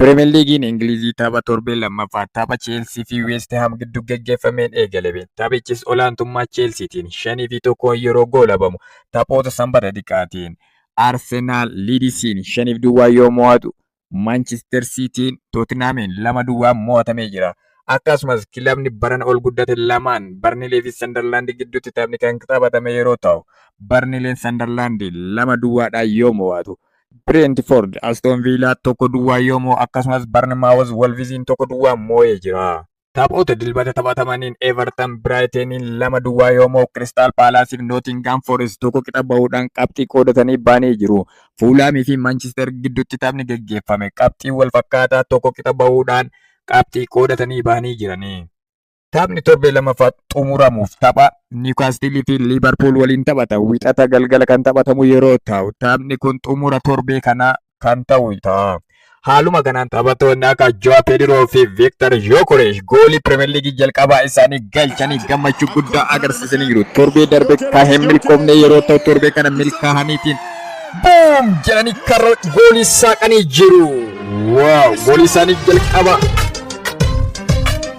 Piriimer Liigiin Ingilizii tapha torbee lammaffaa tapha Cheelsii fi Weest Haam gidduu gaggeeffameen eegalame. Taphichis olaantummaa Cheelsiitiin 5 fi 1 yeroo goolabamu taphoota Sanbata xiqqaatiin Arsenaal Liidisiin 5 fi duwwaa yoo mo'atu Maanchister Siitiin Tootinhaamiin 2 duwwaan mo'atamee jira. Akkasumas kilabni barana ol guddate lamaan Barnilee fi Sandarlaand gidduutti taphni kan taphatame yeroo ta'u Barnileen Sandarlaand 2 duwwaadhaan yoo mo'atu Bireentifoord Astoon Viilaa tokko duwwaa yoo moo akkasumas Barnimaawuz Wolviziin tokko duwwaa moo'ee jira. Taphoota dilbata taphatamaniin Everton Biraayiteniin lama duwwaa yoo moo Kiristaal Paalaasiif Nootingaam Foorest tokko qixa bahuudhaan qabxii qoodatanii ba'anii jiru. Fuulaamii fi Manchister gidduutti taphni geggeeffame qabxii wal fakkaataa tokko qixa bahuudhaan qabxii qoodatanii ba'anii jirani. Taphni torbee lamaffaa xumuramuuf tapha Niwukaastilii fi Liivarpuul waliin taphata. Wixata galgala kan taphatamu yeroo ta'u, taphni kun xumura torbee kanaa kan ta'u ta'a. Haaluma kanaan taphattoonni akka Joa Pediroo fi Viktor Yokoresh goolii Pirimeer Liigii jalqabaa isaanii galchanii gammachuu guddaa agarsiisanii jiru. Torbee darbe kan hin milkoofne yeroo ta'u torbee kana milkaa'aniitiin buum jedhanii karra goolii saaqanii jiru. Waaw goolii isaanii jalqabaa